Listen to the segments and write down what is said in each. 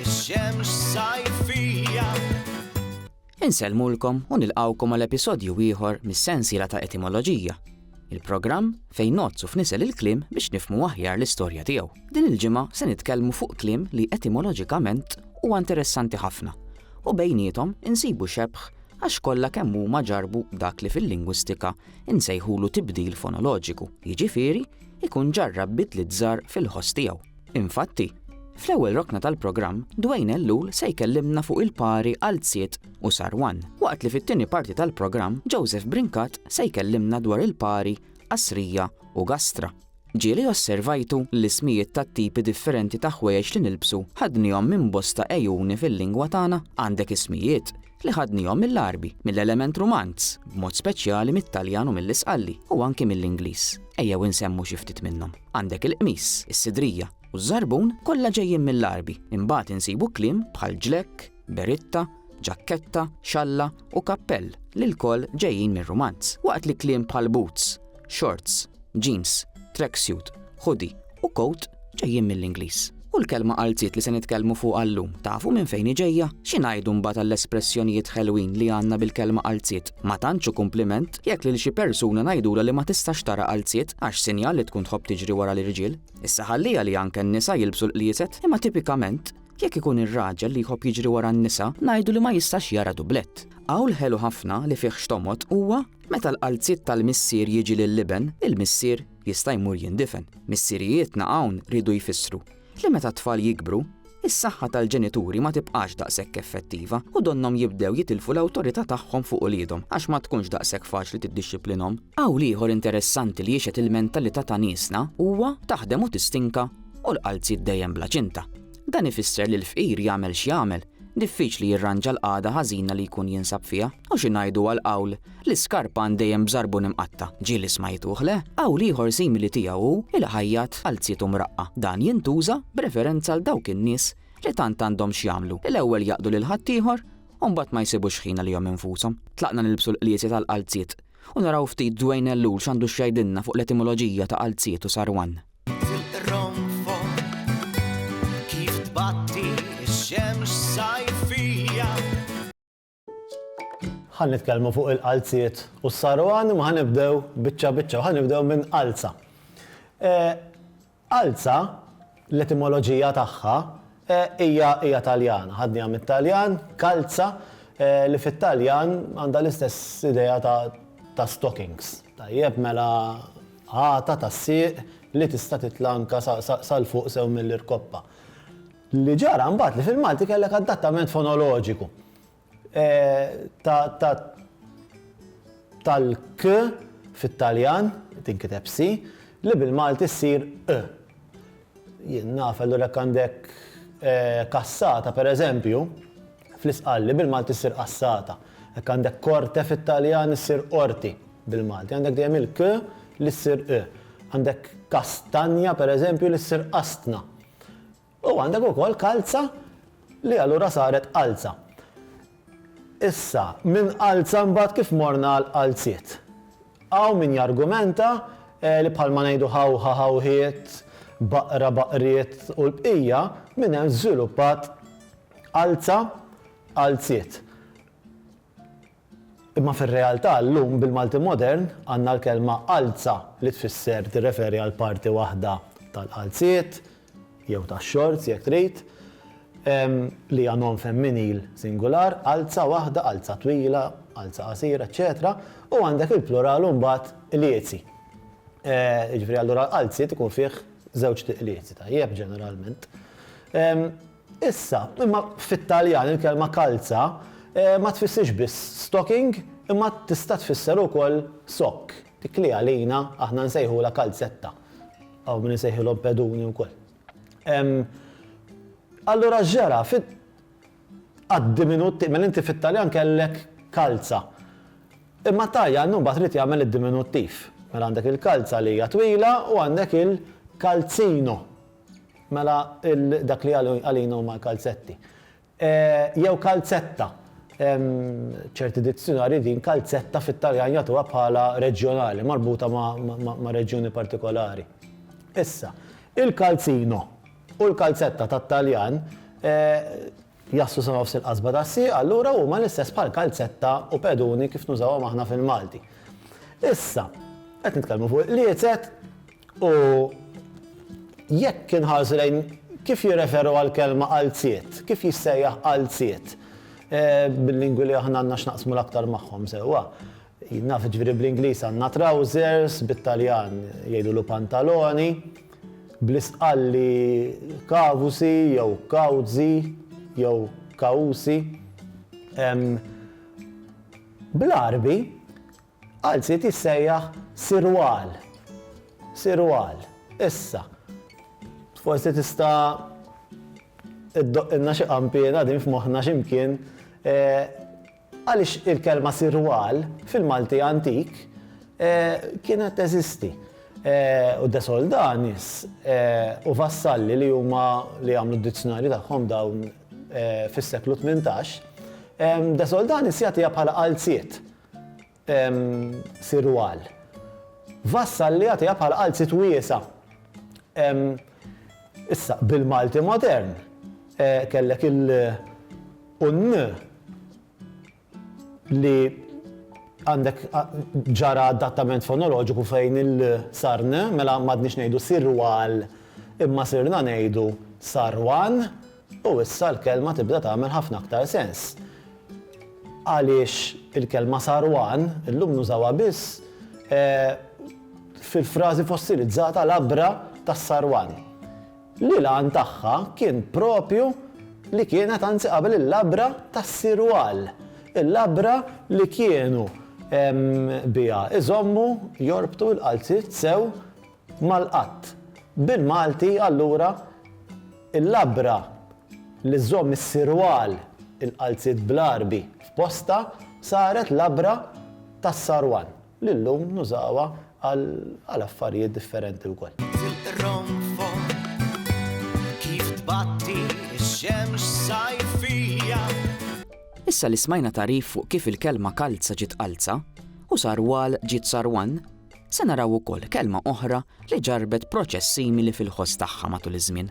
Ix-xemx sajfija. Insellmulkom u nilqawkom għal episodju ieħor mis-sensiela ta' Etimoloġija, il-programm fejn nozzu f'nisel il-kliem biex nifmu aħjar l-istorja tiegħu. Din il-ġimgħa se nitkellmu fuq kliem li etimoloġikament huwa interessanti ħafna u bejnietom insibu xebħ għax kollha kemm huma ġarbu dak li fil-lingwistika insejħulu tibdil fonoloġiku, jiġifieri ikun ġarrab bidliet żgħar fil-ħoss tiegħu. Infatti, fl-ewwel rokna tal-programm, Dwayne Ellul se jkellimna fuq il-pari għal Ziet u Sarwan, waqt li fit-tieni parti tal-programm Joseph Brincat se jkellimna dwar il-pari Qasrija u Gastra. Ġieli osservajtu l-ismijiet tat-tipi differenti ta' ħwejjeġ li nilbsu ħadnihom minn bosta għejuni fil-lingwa tagħna? Għandek ismijiet? li ħadnihom mill-Għarbi, mill-element Rumanz, b'mod speċjali mit-Taljan u mill-Isqalli, u anki mill-Ingliż. Ejjew insemmu xi ftit minnhom. Għandek il-qmis, is-sidrija, u ż-żarbun kollha ġejjin mill-Għarbi. Imbagħad insibu kliem bħal ġlekk, beritta, ġakketta, xalla u kappell li lkoll ġejjin mir-Rumanz. Waqt li kliem bħal boots, shorts, jeans, tracksuit, hoodie u coat ġejjin mill-Ingliż. U l-kelma qalziet li se nitkellmu fuqha llum tafu minn fejn hi ġejja? Xi ngħidu mbagħad għall-espressjonijiet ħelwin li għandna bil-kelma qalziet? Ma tantx hu kumpliment jekk lil xi persuna ngħidulha li ma tistax tara qalziet għax sinjal li tkun tħobb tiġri wara l-irġiel. Issa ħalliha li anke n-nisa jilbsu l-qlieset, imma tipikament jekk ikun ir-raġel li jħobb jiġri wara n-nisa ngħidu li ma jistax jara dublett. Qawl ħelu ħafna li fih x'tomgħod huwa Meta l-qalziet tal-missier jiġi lill-iben, il-missier jista' jmur jindifen. Missirijietna hawn riedu jfissru li meta t-tfal jikbru, is-saħħa tal-ġenituri ma tibqax daqshekk effettiva u donnhom jibdew jitilfu l-awtorità tagħhom fuq uliedhom għax ma tkunx daqshekk faċli tiddixxiplinhom. Qawl ieħor interessanti li jixhed il-mentalità ta' niesna huwa taħdem u tistinka u l-qalziet dejjem bla ċinta. Dan ifisser li l-fqir jagħmel x'jagħmel, Diffiċli jirranġa l-qagħda ħażina li jkun jinsab fiha. U xi ngħidu għall-qawl, L-iskarpan dejjem b'żarbun imqatta'. Ġieli smajtuh, le? Qawl ieħor simili tiegħu hu, Il-ħajjat għal zietu mraqqa'. Dan jintuża b'referenza għal dawk in-nies li tant għandhom x'jagħmlu li l-ewwel jaqdu lil ħaddieħor u mbagħad ma jsibux ħin għalihom infushom. Tlaqna nilbsu l-qliesi tal-qalziet u naraw ftit Dwayne Ellul x'għandu x'jgħidilna fuq l-etimoloġija ta' qalziet u sarwan. ħan nitkellmu fuq il-qalziet u s-saru għan ma ħan nibdew bicċa bicċa, ħan nibdew minn qalza. E, qalza, l-etimoloġija tagħha, Hija hija Taljana, ħadniha mit-Taljan, kalza, li fit-Taljan għandha l-istess idea ta' ta' stockings. Tajjeb, mela għata tas-sieq li tista' titla' anke sa sa sa 'l fuq sew mill-irkoppa. Li ġara mbagħad li fil-Malti kellek adattament fonoloġiku. tal-k fit-Taljan, tinkiteb si, li bil-Malti ssir ë. Jien naf, allura jekk għandek kassata, per eżempju, fl-Isqalli, bil-Malti ssir qassata. Jekk għandek korte fit-Taljan issir qorti bil-Malti. Għandek dejjem il-k li ssir ë. Għandek kastanja, per eżempju, li ssir qastna. U għandek ukoll kalza li allura saret qalza. Issa, minn qalza mbagħad kif morna għal qalziet? Hawn min jargumenta li bħalma ngħidu ħawħa ħawħiet, baqra baqriet u l-bqija, minn hemm żviluppat qalza qalziet. Imma fir-realtà llum bil-Malti modern għandna l-kelma qalza li tfisser tirreferi għal parti waħda tal-qalziet, jew tax-xorts jekk trid, li hija nom femminil singular, qalza waħda, qalza twila, qalza qasira, eċċetera U għandek il-plural imbagħad liezi. Jiġifieri allura qalziet ikun fih żewġt liezi, tajjeb, ġeneralment. Issa, imma fit-Taljan il-kelma kalza ma tfissirx biss stocking imma tista' tfisser ukoll sokk, dik li għalina aħna nsejħulha kalzetta. Hawn min isejħilhom peduni wkoll. Allura x'ġara? Għad-diminuttiv, mela inti fit-Taljan kellek kalza. Imma t-Taljan imbagħad ried jagħmel id-diminuttiv. Mela għandek il-kalza li hija twila u għandek il-calzino. Mela dak li għalina huma l-kalzetti. Jew kalzetta. Ċerti dizzjunarji din kalzetta fit-Taljan jagħtuha bħala reġjonali, marbuta ma' reġjuni partikolari. Issa, il-calzino u l-kalzetta tat-Taljan jaslu sa nofs il-qasba tas-sieq, allura huma l-istess bħal kalzetta u peduni kif nużawhom aħna fil-Malti. Issa, qed nitkellmu fuq il-qliezet U jekk inħarsu lejn kif jirreferu għall-kelma qalziet, kif jissejjaħ qalziet, bil-lingwi li aħna għandna x'naqsmu l-aktar magħhom sewwa, naf jiġifieri bl-Ingliż għandna trousers, bit-Taljan jgħidulu pantaloni, bl-Istqalli kavusi jew kawzi jew kawusi. Bl-Għarbi. Għal sid jissejjaħ sirwal. Sirwal. Issa, forsi tista' iddoqqilna xi qanpiena qegħdin f'moħħna xi mkien, għaliex il-kelma sirwal fil-Malti antik kienet teżisti. U de soldanis u vassalli li huma li għamlu d-dizzjonarju tagħhom dawn fis-seklu tmintax, de soldanis jagħtiha bħala għal sid. Sirwal. Vassal li jagħtiha bħala qalziet wiesgħa. Issa, bil-Malti modern, kellek il u n li għandek ġara adattament fonoloġiku fejn il sar n, mela m'għadniex ngħidu sirwal imma sirna ngħidu sarwan, U issa l-kelma tibda tagħmel ħafna aktar sens. Għaliex il-kelma sarwan illum nużawha biss fil-frażi fossilizzata labra tas-sarwan. Li l-għan tagħha kien proprju li kienet anzi qabel il-labra tas-sirwal, il-labra li kienu biha jżommu, jorbtu l-qalziet sew mal-qatt. Bil-Malti, allura, il-labra li żżomm is-sirwal, il-qalziet bl-Għarbi, f'postha saret labra tas-sarwan, li llum nużawha għal affarijiet differenti wkoll. Tilqronfon kif tbatti x-xemx sajfija. Issa li smajna tagħrif fuq kif il-kelma kalza ġiet qalza, u sarwal ġiet sarwan, Se naraw ukoll kelma oħra li ġarrbet proċess simili fil-ħoss tagħha matul iż-żmien.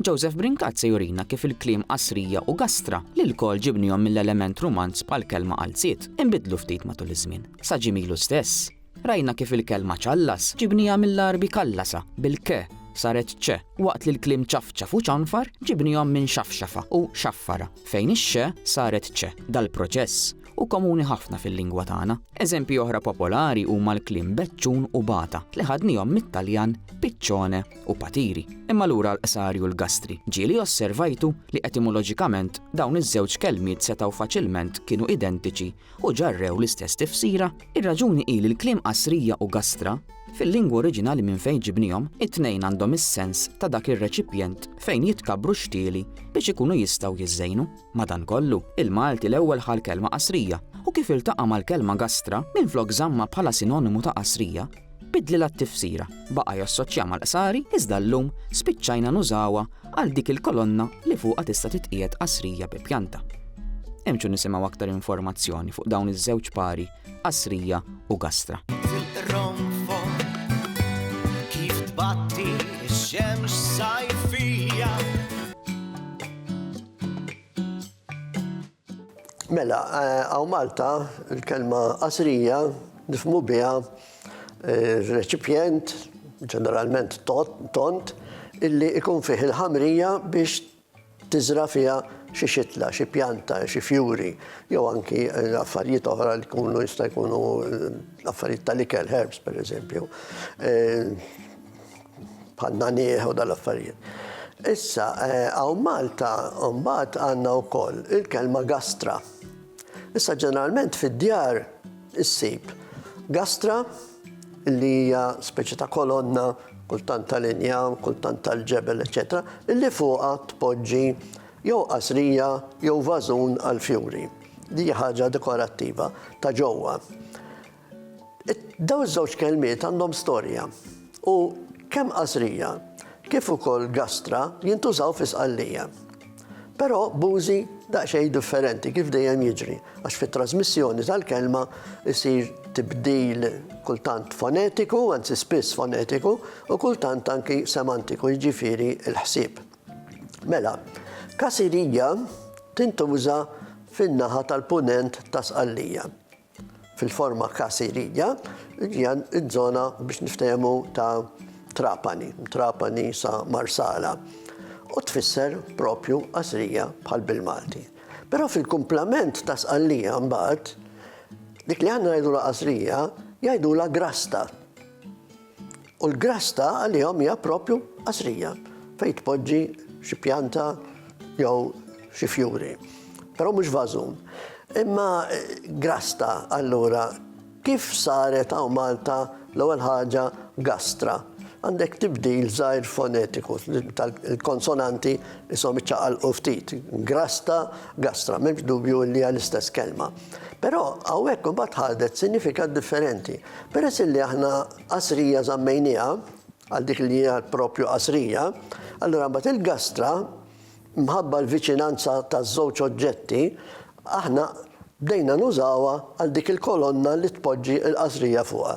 Joseph Brincat se jurina kif il-kliem qasrija u gastra, li lkoll ġibnihom mill-element rumanz bħall-kelma qalziet, inbidlu ftit matul iż-żmien. Sa ġie milu stess, rajna kif il-kelma ċallas ġibniha mill-Għarbi kallasa, bil-k, saret ċ, waqt li l-kliem ċafċaf u ċanfar ġibnihom minn xafxafa u xaffara, fejn ix-x saret ċ. Dal-proċess u komuni ħafna fil-lingwa tagħna. Eżempji oħra popolari huma l-kliem beċċun u bata li ħadnihom mit-Taljan piccione u patiri. Imma lura l-qsari u l-gastri. Ġieli osservajtu li etimoloġikament dawn iż-żewġ kelmiet setgħu faċilment kienu identiċi u ġarrew l-istess tifsira. Ir-raġuni hi li l-kliem qasrija u gastra Fil-lingwa oriġinali minn fejn ġibnihom, it-tnejn għandhom is-sens ta' dak ir-reċipjent fejn jitkabru xtieli biex ikunu jistgħu jiżżejnu. Madankollu, il-Malti l-ewwel ħa l-kelma qasrija, u kif iltaqa' mal-kelma gastra, minflok żammha bħala sinonimu ta' qasrija, biddlilha t-tifsira, baqa' jassoċja mal-qsari iżda llum spiċċajna nużawha għal dik il-kolonna li fuqha tista' titqiegħed qasrija bi pjanta. Imxu nisimgħu aktar informazzjoni fuq dawn iż-żewġ pari, qasrija u gastra. Mela, eh, għaw Malta, il-kelma qasrija, nifmu biha eh, reċipjent, ġeneralment tont, illi ikun fih il-ħamrija biex tiżra fiha xi xitla, xi pjanta, xi fjuri, jew anki eh, affarijiet oħra li kunu jista' jkunu affarijiet tal-ikel, herbs per eżempju. bħal nagħniegħ u dal-affarijiet. Issa, hawn Malta mbagħad għandna wkoll il-kelma gastra. Issa ġeneralment fid-djar issib gastra li hija speċi ta' kolonna kultant tal-injam, kultant tal-ġebel, eċetera, illi fuqha tpoġġi jew qasrija jew vażun għal fjuri. Di ħaġa dekorattiva ta' ġewwa. Dawn iż-żewġ kelmiet għandhom storja u kemm Qasrija kif ukoll Gastra jintużaw fi Sqallija. Però b'użi daqsxejn differenti kif dejjem jiġri għax fit-trażmissjoni tal-kelma jsir tibdil kultant fonetiku, anzi spiss fonetiku, u kultant anki semantiku, jiġifieri l-ħsieb. Mela, Kasirija tintuża fin-naħa tal-Punent ta' Sqallija. fil-forma Caseria, hija ż-żona biex niftehmu ta' Trapani, Trapani sa Marsala. U tfisser propju qasrija bħal bil-Malti. Però fil-kumplament ta' sqallija mbagħad, dik li għandna ngħidulha qasrija, jgħidulha grasta. U l-grass ta' għalihom hija proprju qasrija fejn tpoġġi xi pjanta jew xi fjuri. Però mhux vażun. Imma grass ta' allura kif saret hawn Malta l-ewwel ħaġa gastra? Għandek tibdil żgħir fonetiku tal-konsonanti ishom iċċaqalqu ftit. Grass ta' gastra, m'hemmx dubju li hija l-istess kelma. Però hawnhekk imbagħad ħadet sinifikat differenti. Peress illi aħna qasrija żammejnieha, għal dik li hija proprju qasrija, allura mbagħad il-gastra, mħabba l-viċinanza taż-żewġ oġġetti, aħna bdejna nużawha għal dik il-kolonna li tpoġġi l-qasrija fuqha.